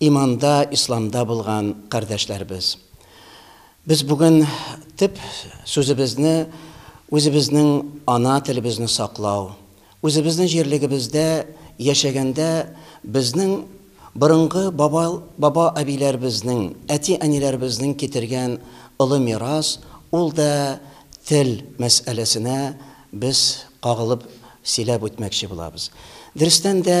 Иманда, исламда булган кардәшләребез! Без бүген төп сүзебезне үзебезнең ана телебезне саклау, үзебезнең җирлегебездә яшәгәндә безнең борынгы баба баба әбиләребезнең, әти әниләребезнең китергән олы мирас, ул да тел мәсьәләсенә без кагылып сөйләп үтмәкче булабыз. Дөрестән дә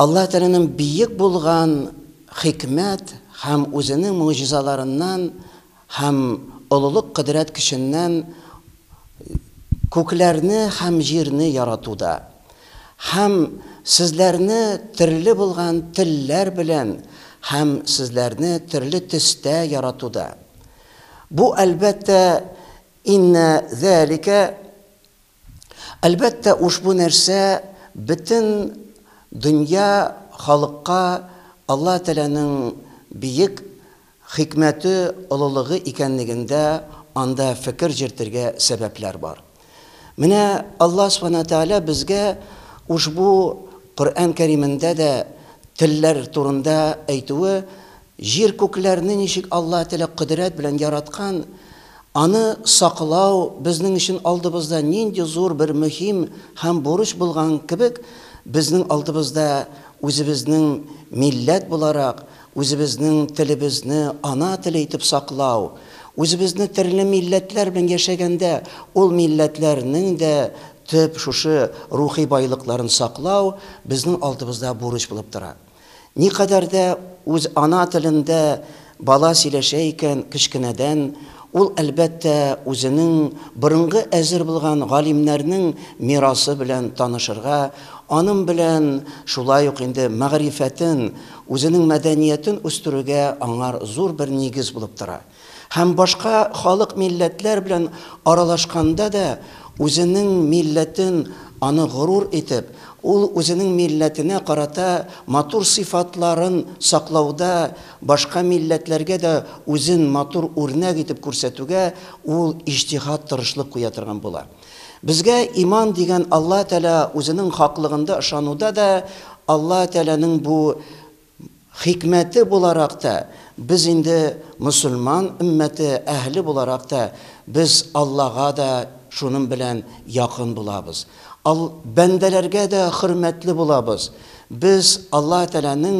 Аллаһ Тәгаләнең биек булган хикмәт һәм Үзенең могҗизаларыннан һәм олылык кодрәт көченнән күкләрне һәм җирне яратуда һәм сезләрне төрле булган телләр белән һәм сезләрне төрле төстә яратуда. Бу, әлбәттә, Иннә зәликә Әлбәттә, ушбу нәрсә бөтен дөнья халыкка Алла Тәләнең биек хикмәте, олылыгы икәнлегендә анда фекер җертергә сәбәпләр бар. Менә Алла Субхана Тәгалә безгә ушбу Коръән Кәримендә дә телләр турында әйтүе Җир-күкләрне ничек Алла теләк кодрәт белән яраткан, аны саклау безнең өчен алдыбызда нинди зур бер мөһим һәм бурыч булган кебек, безнең алдыбызда үзебезнең милләт буларак, үзебезнең телебезне ана теле итеп саклау, үзебезне терле милләтләр белән яшәгәндә ул милләтләрнең дә төп шушы рухи байлыкларын саклау безнең алдыбызда бурыч булып тора. Никадәр дә үз ана телендә бала сөйләшә икән кечкенәдән, ул, әлбәттә, үзенең борынгы әзер булган галимнәрнең мирасы белән танышырга, анын белән шулай ук инде мәгърифәтен, үзенең мәдәниятен үстерүгә аңар зур бер нигез булып тора. Һәм башка халык-милләтләр белән аралашканда да үзенең милләтен аны горур итеп, ул үзенең милләтенә карата матур сыйфатларын саклауда башка милләтләргә дә үзен матур үрнәк итеп күрсәтүгә ул иҗтиһат тырышлык куя торган була. Безгә иман дигән Алла Тәгалә үзенең хаклыгында ышануда да Алла Тәгаләнең бу Хикмәте буларак та, без инде мөселман өммәте әһеле буларак та, без Аллага да шуның белән якын булабыз. Ал, бәндәләргә дә хөрмәтле булабыз. Без Аллаһ Тәгаләнең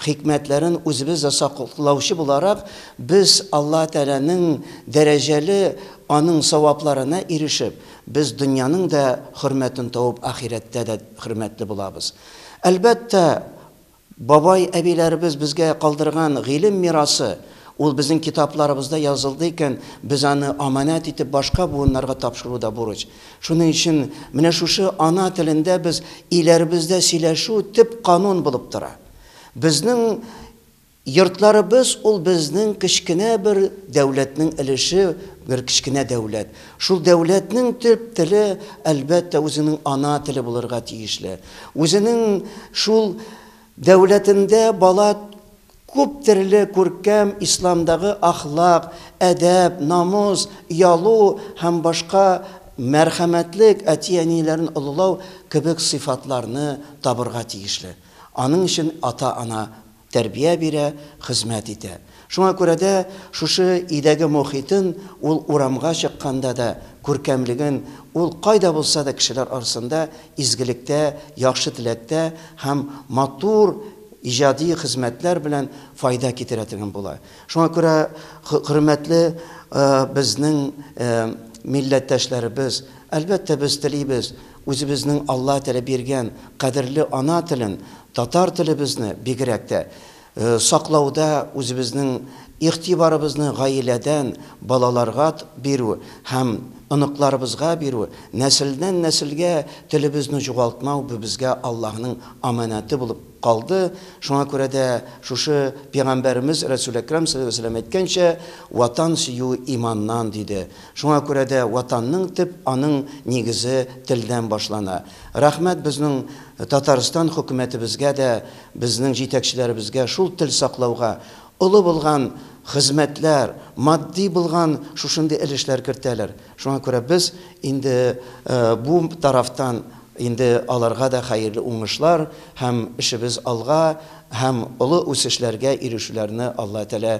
хикмәтләрен үзебез дә саклаучы буларак, без Аллаһ Тәгаләнең дәрәҗәле, Аның савапларына ирешеп, без дөньяның да хөрмәтен табып, ахирәттә дә хөрмәтле булабыз. Әлбәттә, Бабай-әбиләребез безгә калдырган гыйлем мирасы, ул безнең китапларыбызда язылды икән, без аны аманәт итеп башка буыннарга тапшыру да бурыч. Шуның өчен менә шушы ана телендә без өйләребездә сөйләшү төп канун булып тора. Безнең йортларыбыз ул безнең кечкенә бер дәүләтнең өлеше, бер кечкенә дәүләт. Шул дәүләтнең төп теле, әлбәттә, үзенең ана теле булырга тиешле. Үзенең шул дәүләтендә бала күп төрле күркәм исламдагы ахлак, әдәп, намус, оялу һәм башка мәрхәмәтлек, әти-әниләрен олылау кебек сыйфатларны табырга тиешле. Аның өчен ата-ана Тәрбия бирә, хезмәт итә. Шуңа күрә дә шушы өйдәге мохитен ул урамга чыкканда да, күркәмлеген ул кайда булса да кешеләр арасында изгелектә, яхшы теләктә һәм матур иҗади хезмәтләр белән файда китерә торган була. Шуңа күрә хөрмәтле безнең милләттәшләребез, әлбәттә, без телибез, Үзебезнең Алла теле биргән кадерле ана телен, татар телебезне бигрәк тә саклауда үзебезнең игътибарыбызны гаиләдән балаларгат бирү һәм оныкларыбызга бирү, нәселдән нәселгә телебезне җугалтмау бу безгә Аллаһның аманәте булып калды. Шуңа күрә дә шушы Пигамбәребез Рәсүл Әкрәм салләллаһу галәйһи ва сәлләм әйткәнчә, Ватан сөю иманнан, диде. Шуңа күрә дә Ватанның төп аның нигезе телдән башлана. Рәхмәт безнең Татарстан хөкүмәтебезгә дә, безнең җитәкчеләребезгә шул тел саклауга олы булган хезмәтләр, матди булган шушындый өлешләр кертәләр. Шуңа күрә без инде бу тарафтан инде аларга да хәерле уңышлар һәм эшебез алга һәм олы үсешләргә ирешүләрне Алла телә.